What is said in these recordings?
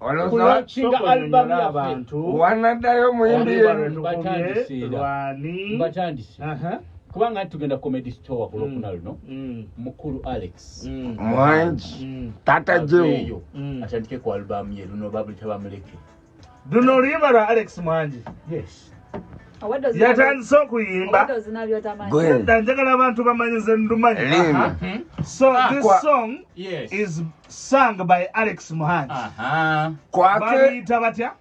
olwokulaunkinga albamu yabantu wanaddayo muyimbi mbatandise kubanga tugenda comedy store ku lwokuna mm. luno mm. mukulu alex mm. mwangi tata jeyo atandike ku albamu ye luno babulita bamuleke luno oluyimba lwa alex mwangi yes yatandise okuyimba njagala abantu bamanyize ndumanyi so ah, this song is sang by alex muhangi bamuyita batya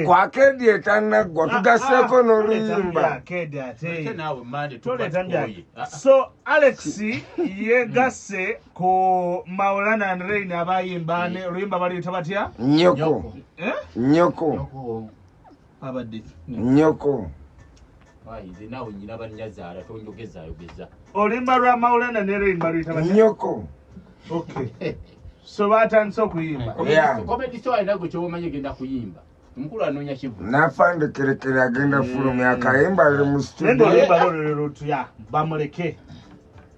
kwakedi etanaggwa tugaseeko n'oluyimbaso alex yegasse ku maulan and rain abayimba oluyimba baluyita batya nyoko eh? nyoko abadde nyoko ayize nawe nyina banyazaala tonjogezayogeza olimba lwa maulana nero imba luyita nyoko okay so batandise okuyimba komedi so alina gwe kyobamanyi egenda kuyimba omukulu anoonya kivu nafande kerekere agenda eh. fulumya akayimba ali mu studio olimba lolero tuya bamuleke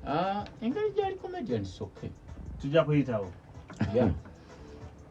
ah, engeri gyali comedian soke tujja kuyitawo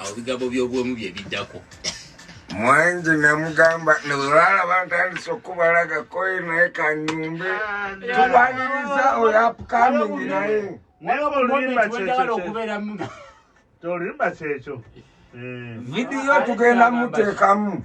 awo bigambo by'obwomu bye biddako mwanji namugamba newelala bantandise okubalaga koyi naye kanyumbe ah, tubaniriza oyo apukamingi naye tolimba kyekyo vidiyo tugenda muteekamu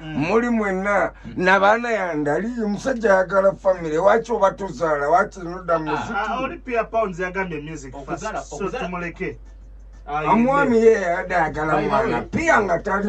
muli mwenna nabaana yange ali omusajja ayagala famire waki oba tuzaala waki noda muzikimuleke omwami ye yayadde ayagala mwana piya nga tali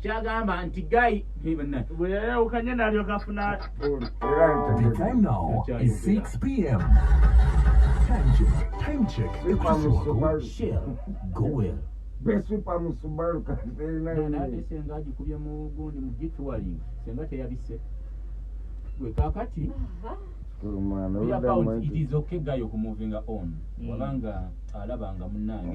kyagamba nti gayi bweyayawukanye nalyoka afuna The time now is 6 p.m. Time check. Time check. The Christian Wako Shell. Go well. besupa mu subaru katenaate senga agikubye mu gundi mu gituwaling senga teyabise gwe kakati okgayo okumuvinga on wabanga alabanga munange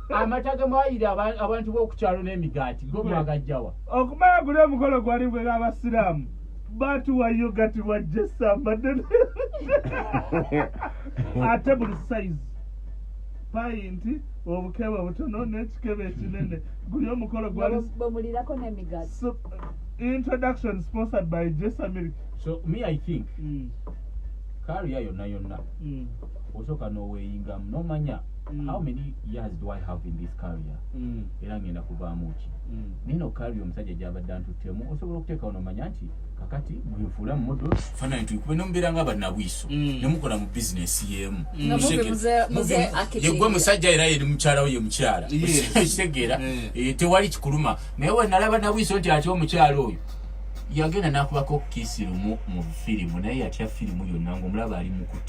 amata gemwayira abantu b'okukyalo n'emigaati go mwagajjawa okumala guli omukolo gwali gwera abasiraamu batuwayo gati wajja esamba ddene ate buli sayizi payinti obukebe obutono n'ekikebe ekinene guli omukolo gwali bamulirako n'emigaati introduction sponsored by jesa milk so me i think mm. kariya yonna yonna mm. osoka noweyingamu nomanya mm. how many years do i have in this career mm. era ngenda kuvaamu ki mm. nino kari omusajja gyabadde antuttemu osobola okuteekawo nomanya nti kakati mwenfuula mumodo fanani tuikube nomubeera nga banabwiso mm. nemukola mu bizinesi yemu mm. yegwe musajja era yeri mukyalawo ye mukyala kitegeera mm. eh, tewali kikuluma naye wenalaba nabwiso nti ati omukyala oyo yagenda nakubako kisi lumu mu firimu naye yatya firimu yonna ngaomulaba ali mukuti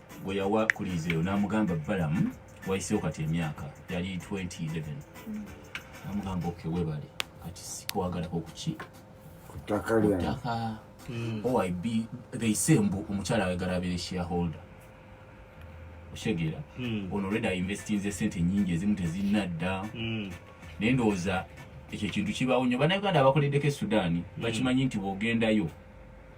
gwe yawa kuliizi eyo n'amugamba balamu wayiseewo kati emyaka yali 2011 mm. namugamba oke webale kati sikwagalako kuki kutaka mm. oyb they say mbu omukyala ayagala abeere shareholder oshegera mm. ono reda investinze sente nyingi ezimu tezinadda naye ndowooza ekyo ekintu kibaawo nyo banauganda abakoleddeko e sudaani bakimanyi nti bwogendayo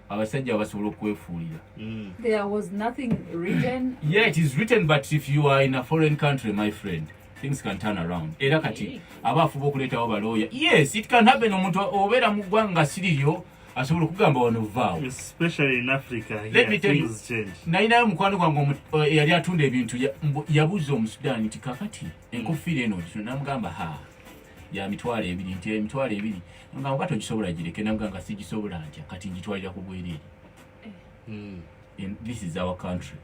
abasajja basobola okwefuulira mm. there was nothing written yeah it is written but if you are in a foreign country my friend things can turn around era kati aba afuba okuleetawo balooya yes it can happen omuntu obeera mu ggwanga nga siriryo asobola okugamba wano vaawo nalinayo mukwano gwange eh, eyali atunda ebintu yabuuza omusudaani nti kakati enkofiira eno namugamba ha ya mitwalo ebiri nti emitwalo ebiri nga oba togisobola gireke naga nga sigisobola ntya kati ngitwalira ku bwereere hmm. this is our country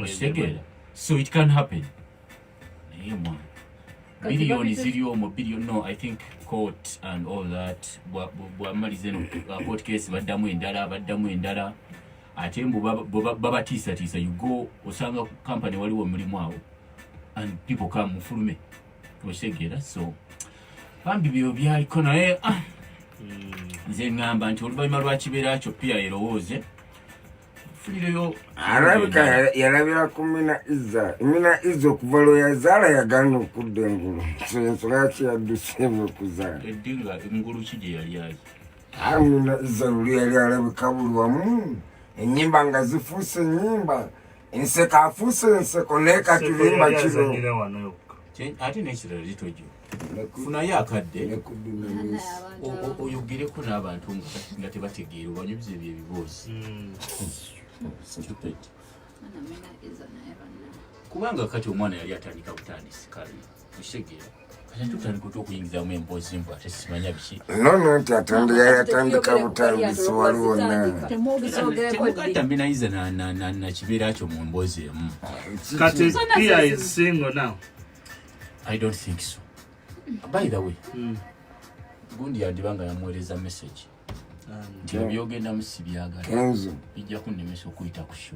okitegera so it can happen naye mwana biliyoni ziri omu biliyoni no i think court and all that bwamaliza eno uh, court case baddamu endala baddamu endala ate mbu babatiisatiisa you go osanga company waliwo omulimu awo and people come mufulume okitegera so bambi byo byaliko naye ah, hmm. nze ngamba nti oluvannyuma lwakibeera kyo piya erowooze arabika yalabira ku mina iza mina iza okuva lwe yazaala yagaana okudda engulu so ensonga yaki yadduseemu okuzaala edinga engulu ki gye yali ayi ah, mina iza luli yali alabika buli wamu enyimba nga zifuuse enyimba enseko afuuse enseko leka tulimba kino ate nekirala litojo funayo akadde oyogereko n'abantu nga tebategeera obanyubiza ebyo ebiboozi hmm. kubanga kati omwana yali atandika butandisi kale nono nti atonda yayatandika butambisi waliwo nakibeera kyo mu mboozi emu kati pia is single now i don't think so by the way mm. gundi yandiba nga yamuweereza message nti ebyogendamu si byagala bijja kunnemesa okuyita ku sho